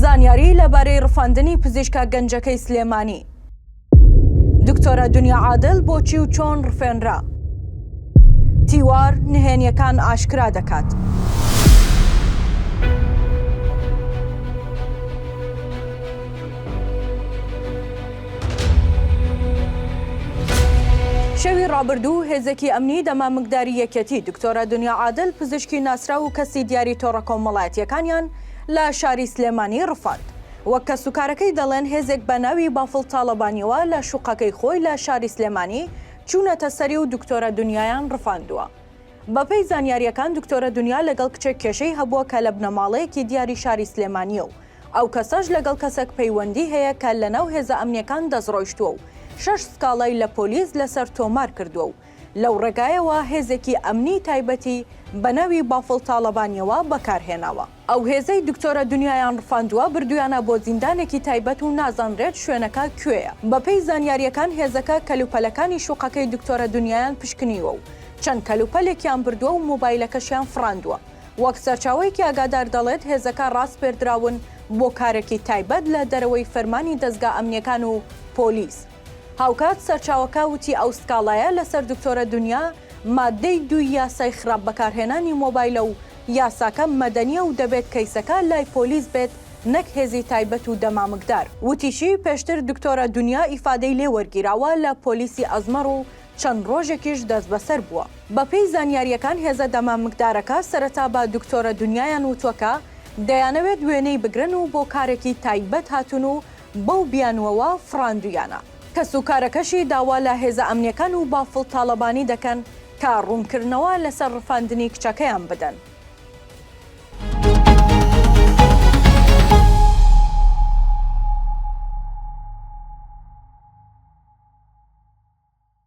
زانیاری لەبارەی ڕفاندنی پزیشکە گەنجەکەی سلێمانی دکتۆرە دنیا عادل بۆچی و چۆن ڕفێنرا؟ تیوار نهێنیەکان ئاشکرا دەکات. شەوی ڕابردوو هێزێکی ئەمنی دەمامکداری یەکێتی دکتۆرە دنیا عادل پزیشکی ناسراو و کەسی دیاری تۆڕە کۆمەڵایەتیەکانیان لە شاری سلێمانی ڕفاند. وەک کەسوکارەکەی دەڵێن هێزێک بە ناوی بافڵ تاڵەبانیەوە لە شوقەکەی خۆی لە شاری سلێمانی چوونەتە سەری و دکتۆرە دنیایان ڕفاندووە. بەپێی زانیارییەکان دکتۆرە دنیا لەگەڵ کچێک کێشەی هەبووە کە لە بنەماڵەیەکی دیاری شاری سلێمانییە و ئەو کەسەش لەگەڵ کەسێک پەیوەندی هەیە کە لەناو هێزە ئەمنیەکان دەستڕۆیشتووە و شەش سکاڵای لە پۆلیس لەسەر تۆمار کردووە و لەو ڕێگایەوە هێزێکی ئەمنیی تایبەتی بە ناوی بافڵ تاڵەبانییەوە بەکار هێناوە. ئەو هێزەی دکتۆرە دنیایان ڕفاندووە، بردوویانە بۆ زیندانێکی تایبەت و نازانرێت شوێنەکە کوێیە. بەپێی زانیارییەکان هێزەکە کەلوپەلەکانی شوقەکەی دکتۆرە دنیایان پشکنیوە و چەند کەلوپەلێکیان بردووە و مۆبایلەکەشیان فڕاندووە. وەک سەرچاوەیەکی ئاگادار دەڵێت، هێزەکە ڕاسپێردراون بۆ کارێکی تایبەت لە دەرەوەی فەرمانی دەزگا ئەمنییەکان و پۆلیس. هاوکات سەرچاوەکە وتی ئەو سکاڵایە لەسەر دکتۆرە دونیا ماددەی دووی یاسای خراپ بەکارهێنانی مۆبایلە و یاساکە مەدەنیە و دەبێت کەیسەکە لای پۆلیس بێت نەک هێزی تایبەت و دەمامکدار. وتیشی پێشتر دکتۆرە دونیا ئیفادەی لێ وەرگیراوە لە پۆلیسی ئەزمەڕ و چەند ڕۆژێکیش دەستبەسەر بووە. بەپێی زانیارییەکان هێزە دەمامکدارەکە سەرەتا بە دکتۆرە دونیایان وتووە کە دەیانەوێت وێنەی بگرن و بۆ کارێکی تایبەت هاتوون و بەو بیانووەوە فڕاندوویانە. کەسوکارەکەشی داوا لە هێزە ئەمنییەکان و بافڵ تاڵەبانی دەکەن کە ڕوونکردنەوە لەسەر ڕفاندنی کچەکەیان بدەن.